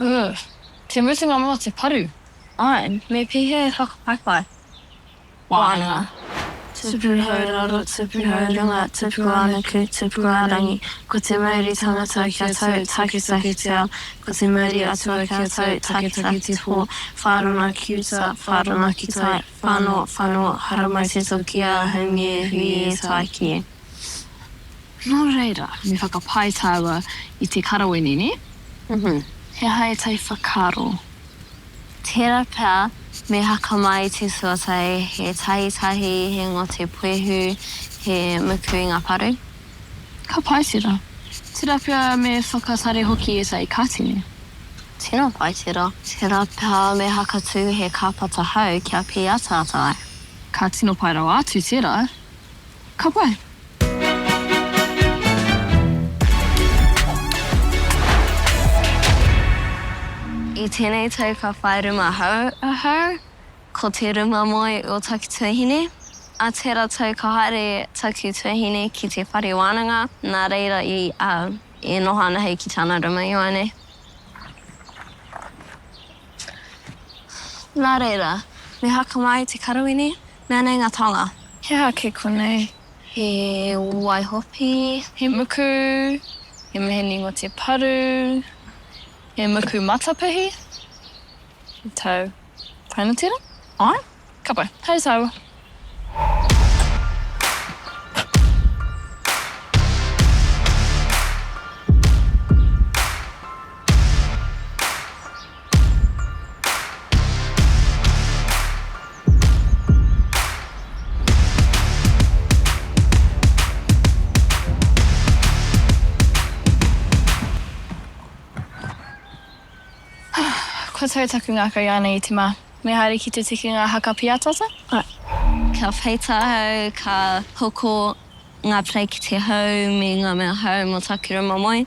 Ooh. Te mutunga mo te paru. Ae, me pihe whakapaipai. Wānanga. Tupu hau raro, tupu hau runga, tupu ā-nuku, tupu ā-rangi, ko te mauri tangata ki a tau, taketake te ao, ko te mauri atua ki a tau, taketake te pō, whārona ki uta, whārona ki tai, whano, whano, haramai te toki ā, haumi e hui e, tāiki e. Nō reira, me whakapae tāua i te karawenī, nē? Uhu, he aha ētahi whakaaro? Tērā pea, me haka mai te suatai, he tahitahi, he ngote puehu, he muku i ngā paru. Ka pai tērā. Tērā pea me whakatare hoki ētahi kāti, nē? Tino pai tērā. Tērā pea me haka tū he kāpata hau kia pīataata ai. Ka tino pai rawa atu tērā. Ka pai! I tēnei tau ka whai ruma hou ahau, ko te ruma moe o taku tuahine. A tera tau ka haere taku tuahine ki te whare wānanga, nā reira i a e noho ana hei ki tana ruma ioane. Nā reira, me haka mai te karawene, Mea nei nga taonga. He aha kē konei? He waihopi. He muku. He meheni ngo te paru. He muku matapihi. He tau. Taina tera? Ae. Ka pai. Hei taua. Kua tau taku ngaka i ana itima. Me haere ki te tikinga haka piatata? Kia peita ahau, ka hoko nga plekiti ahau me nga mea ahau mo taku rima moe.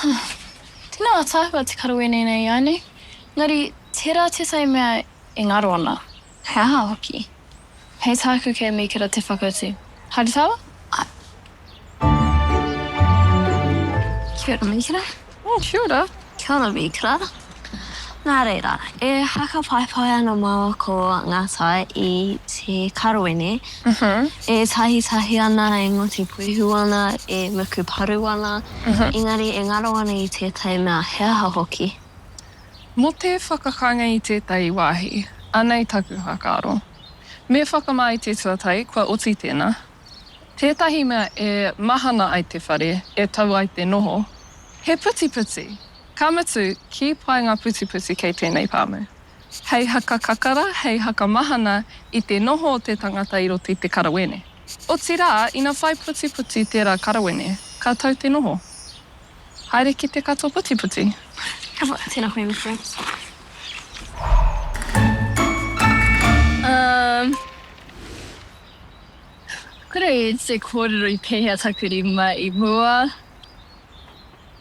Tēnā ātaahua te karo wēnei nei i a nei, engari tērā tētahi mea e ngaro ana, he aha hoki? Hei tāku kei Mīkera te whakautu. Haere tāua? Āe. Kia ora Mīkera. Kia ora. Kia ora Mīkera. Nā reira, e whakapaepae ana māua ko ngā tae i te karawene e tahitahi ana, e ngoti puihu ana, e muku paru ana, engari e ngaro ana i tētahi mea, he aha hoki. Mō te whakakanga i tētahi wāhi, anei taku whakaaro. Me whakamā i te tuatahi, kua oti tēnā. Tētahi mea e mahana ai te whare, e tau ai te noho, he putiputi! Ka mutu, kī pai ngā putiputi kei tēnei pāmu. Hei haka kakara, hei haka mahana i te noho o te tangata i roto i te karawene. Otirā, ina whai putiputi tērā karawene, ka tau te noho. Haere ki te katoa putiputi. Ka wha, tēnā koe Mister. Umm. Kore te kōrero i pēhea taku rima i mua?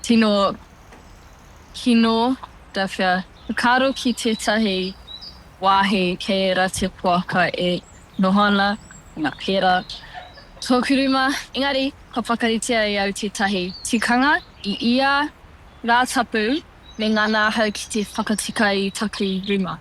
Tino kino da whea whakaaro ki tetahi wahi kei era te poaka e noho ana, ko nga pera toku rima, engari ka whakaritea e au tetahi tikanga i ia ra tapu me ngana ahau ki te whakatika i taku rima.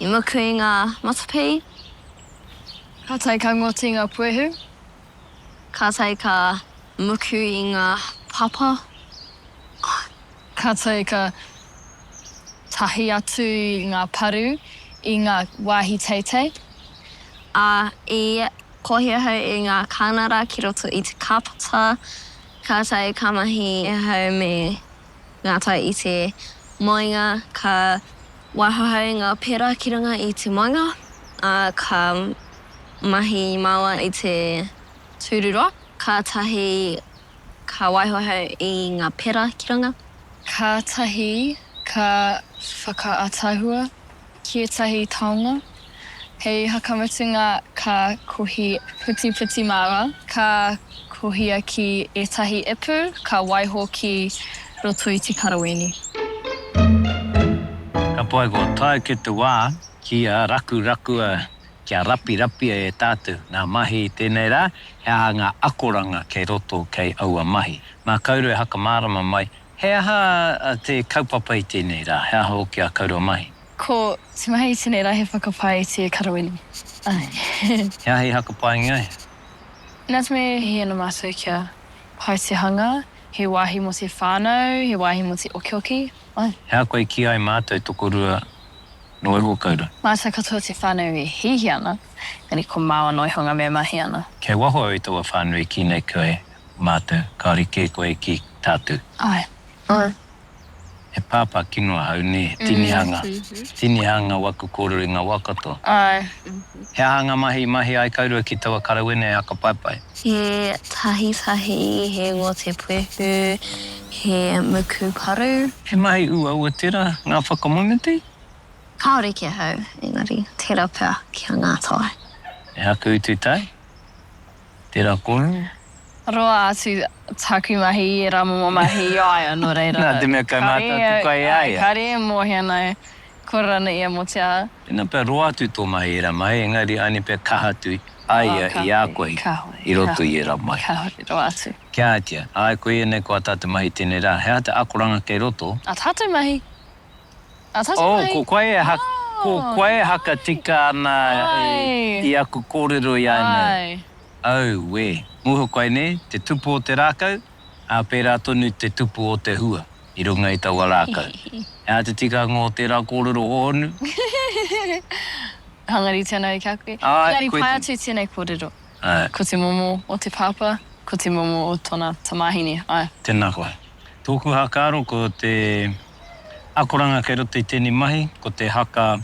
I muku i nga matapi. Ka tae ka ngoti nga puehu. Ka tae ka muku i nga papa. Ka tae ka tahi atu nga paru i nga wahi teitei. A i kohi ahau i nga kanara ki roto i te kapata. Ka tae ka mahi ahau me. ngā tai i te moenga, ka wāhahau ngā pera ki runga i te moenga, ā, ka mahi māua i te tūruroa, kātahi ka waihauhau i ngā pera ki runga. Kātahi ka whakaatahua ki ētahi taonga. Hei whakamutunga ka kohi putiputi māra, ka kohia ki ētahi ipu, ka waiho ki roto i te karawīni. Ka pai kua tae ki te wā kia rakurakua, kia rapirapia e tātou ngā mahi i tēnei rā, he aha ngā akoranga kei roto kei aua mahi. Mā kaurua e whakamārama mai He aha te kaupapa i tēnei rā? He aha hoki a Kaurua Mahi? Ko te mahi i tēnei rā he whakapae i te karawini. Ae. He aha i hakapaengia ai? Nā te mea he ana mātou kia pai te hanga, he wāhi mō te whānau, he wāhi mō te okioki. Ae. He aha koe i kīia ai mātou tokorua nō iho kaurua? Mātou katoa te whānau e hiahia ana, engari ko māua noa iho ngā mea e mahi ana. Kei waho au i taua whānau i kī nei koe, Mātou, kāore kē koe ki tātou. Āe. Āe. He pāpā kino ahau, nē, he tinihanga, tinihanga waku kōrero i ngā wā katoa. Āe. He aha ngā mahi i mahia ai kaurua ki taua karawena e Hakapaepae? He tahitahi, he ngote puehu, he muku paru. He mahi uaua tērā, ngā whakamoemiti? Kāore ki ahau, engari, tērā pea ki a Ngātai. E haku utu tai? Tērā koe. Roa atu taku mahi i ērā momo mahi i a ia, nō reira. Nā te mea kei mātou te kai i a ia. Kāre e mōhio ana e kore rānei ia mō te aha. Tēnā pea roa atu tō mahi i ērā mahi, engari ānei pea kaha atu a ia i a koe i roto i ērā mahi. Kāore roa atu. Kia ātea, āe koe ianei ko ā tātou mahi tēnei rā, he aha te akoranga kei roto? Ā tātou mahi. Oh, ko koe e haka, ko koe e haka tika ana i aku kōrero i a nei. Auē, muha koe nē, te tupu o te rākau, ā, pērā tonu te tupu o te hua i runga i taua rākau. He aha te tikanga o tērā kōrero hōhonu? Hangaritia nāu ki a koe. Engari pae atu i tēnei kōrero. Ae. Ko te momo o te pāpā, ko te momo o tona tamāhine. Ae. Tēnā koe. Tōku hakaaro ko te akoranga kei roto i tēnei mahi, ko te haka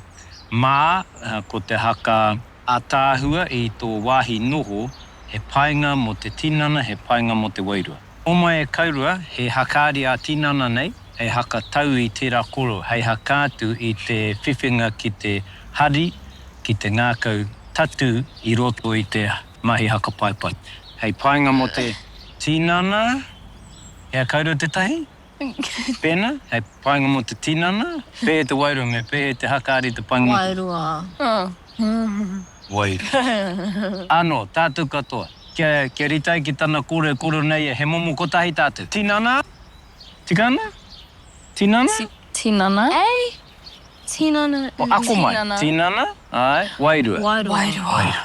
mā, ko te haka ātaahua i tō wāhi noho, he painga mō te tinana, he painga mō te wairua. Homai e Kaurua, he hakaari ā-tinana nei, hei haka tau i tērā koro, hei haka atu i te whiwhinga ki te hari, ki te ngākau tatū i roto i te mahi hakapaipai. Hei painga mō te tinana, he akaurua tētahi? Pēnā, hei painga mō te tinana, pēhea te wairua me pēhea te hakaari te painga mō te. Wairua. Wairua. Anō, tātou katoa, kia, kia rite ai ki tana kōrero, kōrero nei ia, he momo kotahi tātou. Tinana? Tika ana? Tinana? Ti, tinana. Ei! Tinana, mm, tinana. Ako mai, tinana, āe, wairua. Wairua. Wairua. Wairua.